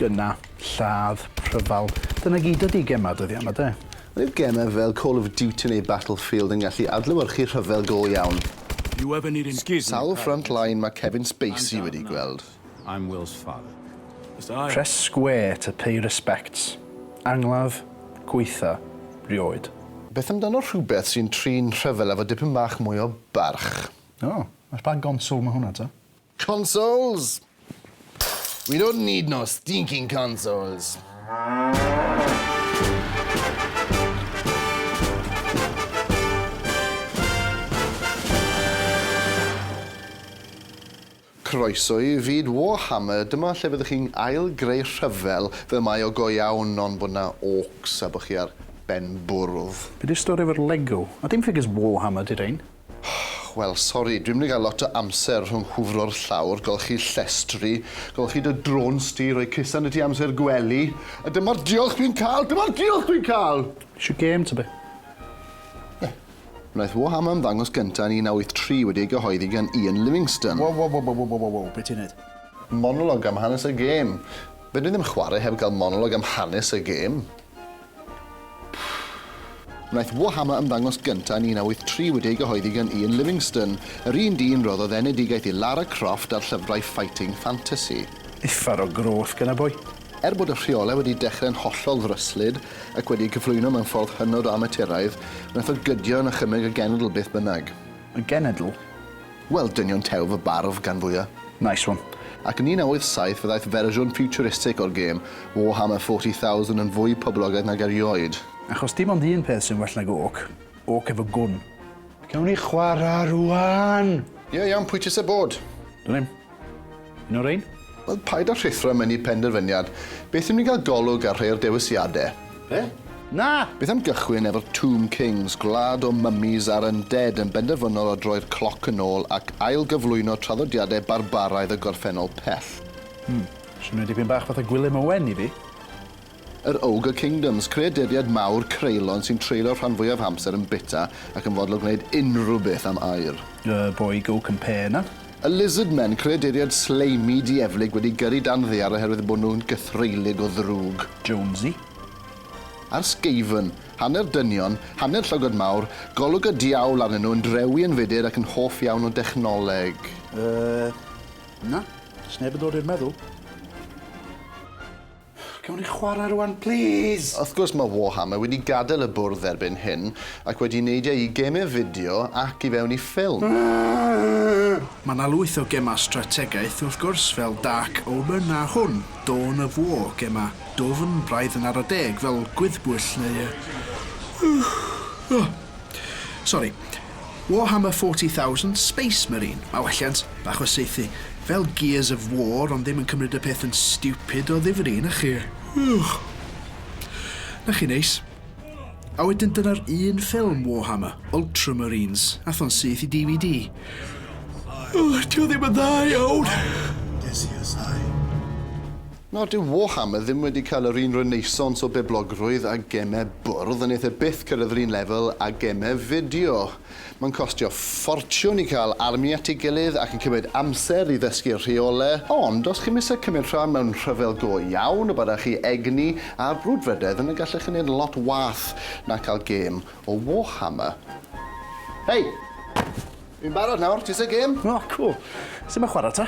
Gynna, lladd, rhyfel, dyna gyd ydi gemau dyddiau yma, de? Roedd gemau fel Call of Duty neu Battlefield yn gallu adlewyrchu rhyfel go iawn. You have an Scuse me, Sawl front line mae Kevin Spacey wedi gweld? I'm Will's father. Press square to pay respects. Angladd, gwaetha, rioed. Beth amdano rhywbeth sy'n trin rhyfel efo dipyn bach mwy o barch? O, ar ba gonsol ma' hwnna ta? Consoles! We don't need no stinking consoles! Croeso i fyd Warhammer, dyma lle fyddwch chi'n ail greu rhyfel fel mae o go iawn ond bod 'na orcs a bod chi ar ben bwrdd. Be di'r stori efo'r Lego? A dim ffigyr's Warhammer di rhein. Wel sori, dwi'm di gael lot o amser rhwng hwfro'r llawr, golchi llestri, golchi dy drôns di, rhoi cusan i ti amser gwely, a dyma'r diolch dwi'n cael, dyma'r diolch dwi'n cael! Isio gêm ta be? Ie. Wnaeth Wham ymddangos gyntaf yn 1983 wedi ei gyhoeddi gan Ian Livingstone. Wow wow wow wow wow wow, be ti'n neud? Monolog am hanes y gêm. Fedrwn i ddim chwarae heb gael monolog am hanes y gêm. Wnaeth Wham ymddangos gyntaf yn 1983 wedi ei gyhoeddi gan Ian Livingstone, yr un dyn roddodd enedigaeth i Lara Croft ar llyfrau fighting fantasy. Uffar o groth gen y boi. Er bod y rheolau wedi dechrau'n hollol ddryslyd ac wedi eu cyflwyno mewn ffordd hynod o amaturaidd, wnaeth o gydio yn achymeg y genedl beth bynnag. Y genedl? Wel, dynion tew fy barf, gan fwya'. Nice one. Ac yn 1987 fe ddaeth fersiwn ffiwturistig o'r gêm, Warhammer 40,000, yn fwy poblogaidd nag erioed. Achos dim ond un peth sy'n well nag orc, orc efo gwn. Gawn ni chwarae rŵan! Ie, iawn, pwy ti isie bod? Dwn i'm. Noreen? Wel, paid â rhuthro mewn i penderfyniad. Beth yw ni'n cael golwg ar rhai o'r dewisiadau? Be? Na! Beth am gychwyn efo'r Tomb Kings, gwlad o mummies a'r undead yn benderfynol o droi'r cloc yn ôl ac ail-gyflwyno traddodiadau barbaraidd y gorffennol pell? Hmm, swnio dipyn bach fatha Gwilym Owen i fi. Yr Ogre Kingdoms, creaduriaid mawr creulon sy'n treulio'r rhan fwyaf amser yn bita ac yn fodlon gwneud unrhyw beth am aur. The Boy Go Compare 'na. Y Lizard Men, creaduriaid sleimi dieflig wedi gyrru dan ddaear oherwydd bod nhw'n gythreulig o ddrwg. Jonesy. A'r Skaven, hanner dynion, hanner llygod mawr, golwg y diawl arnyn nhw, yn drewi yn fudur ac yn hoff iawn o dechnoleg. Yy, na, does neb yn dod i'r meddwl. Gewn ni chwarae rwan plîs? Wrth gwrs mae Warhammer wedi gadael y bwrdd erbyn hyn ac wedi neidio i gemau fideo ac i fewn i ffilm. Mae yna lwyth o gemau strategaeth wrth gwrs fel Dark Omen a hwn, Dawn of War, gemau dwfn, braidd yn ara deg, fel Gwyddbwyll neu yy yy yy sori. Warhammer 40,000, Space Marine, mae welliant bach o saethu, fel Gears of War, ond ddim yn cymryd y peth yn stupid o ddifri, na chi? Ych! Na chi neis. A wedyn dyna'r un ffilm Warhammer, Ultramarines, atho'n syth i DVD. Ych, ti o ddim yn dda iawn! Decius I. Nawr, dyw Warhammer ddim wedi cael yr un renaissance o boblogrwydd â gemau bwrdd, a wneith e byth cyrraedd yr un lefel â gemau fideo. Mae'n costio ffortiwn i cael army at ei gilydd ac yn cymryd amser i ddysgu'r rheolau, ond os chi'm eisiau cymryd rhan mewn rhyfel go iawn y byddech chi egni a'r brwdfrydedd yna gallech chi wneud lot wath na cael gêm o Warhammer. Hei! Fi'n barod nawr, ti isie gêm? O, cŵl. Sut mae chwarae ta?